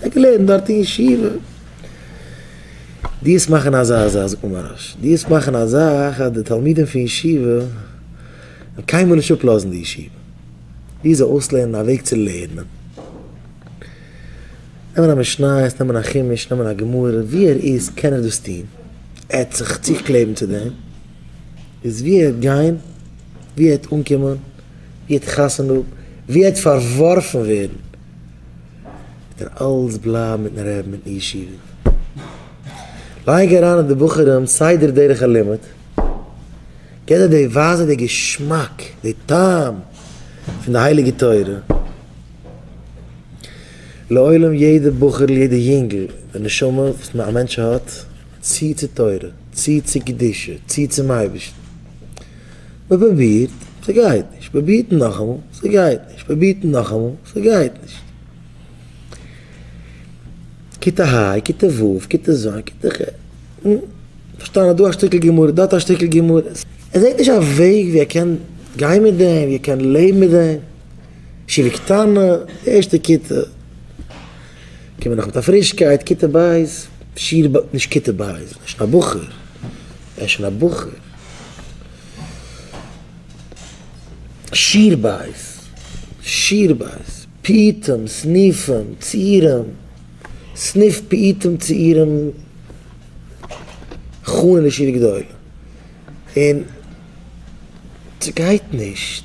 ער האט געלערנט דארט אין ישיבה. דיעס מאכן אזא אזא, זאגט מיר מוהראש, דיעס מאכן א זאך אז די תלמידים פון ישיבה וועלן קיינמאל נישט אפלאזן די ישיבה, ביז זיי אויסלערנען א וועג צו לערנען. נעמען א משניות, נעמען א חומש, נעמען א גמרא, ווי ער איז קען ער דאס טון, ער האט זיך צוגקלעבן צו דעם, איז ווי ער וועט גיין, ווי ער וועט אנקומען, ווי ער וועט חתונה האבן, ווי ער וועט פארווארפן ווערן. ער אלץ בלייב מיטן רעבן אין ישיבה, לייג אריין אין די בחורים סדר דרך הלימוד, געב זיי די ווייזע די געשמאק די טעם פון די הייליגע תורה, לעולם יעדע בחור'ל יעדע יונגל די נשמה וואס א מענטש האט צו צו תורה צו צו קדושה צו צום אייבערשטן. מ'פרובירט, ס'גייט נישט, פרובירט נאכאמאל, ס'גייט נישט, פרובירט נאכאמאל, ס'גייט נישט. כיתה ה', כיתה ו', כיתה ז', כיתה ח', נו, פארשטאנען דא א שטיקל גמרא, דארט א שטיקל גמרא, ער זעט נישט א וועג ווי ער קען גיין מיט דעם, ווי ער קען לעבן מיט דעם, ישיבה קטנה, די ערשטע כיתה, קומען נאך מיט א פרישקייט, כיתה ב', שיעור ב, נישט כיתה ב', ער איז שוין א בחור, ער איז שוין א בחור. שיר בית, שיר בית, פיוטים, סניפים, צעירים, סניף פיוטים צעירים חנן ישיבה גדולה, און ס'גייט נישט.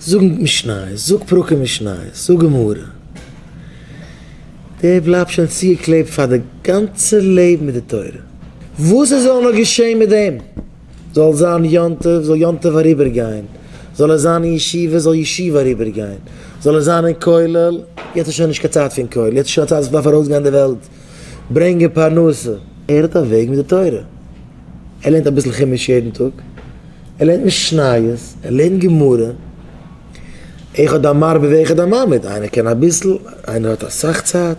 זאג משניות, זאג פרקים משניות, זאג גמרא. דער בלייבט שוין צוגעקלעבט פאר די גאנצע לעבן מיט די תורה. וואס עס זאל נאר געשען מיט דעם, זאל זיין יום טוב, זאל יום טוב אריבערגיין, זאל ער זיין אין ישיבה, זאל ישיבה אריבערגיין, זאל ער זיין אין כולל, יעצט איז שוין נישט קיין צייט פון כולל, יעצט איז שוין א צייט וואס מען דארף ארויסגיין אין די וועלט, ברענגען פרנסה, ער האט א וועג מיט די תורה, ער לערנט אביסל חומש יעדן טאג, ער לערנט משניות, ער לערנט גמרא, אחד המרבה ואחד הממעיט, איינער קען אביסל, איינער האט אסאך צייט.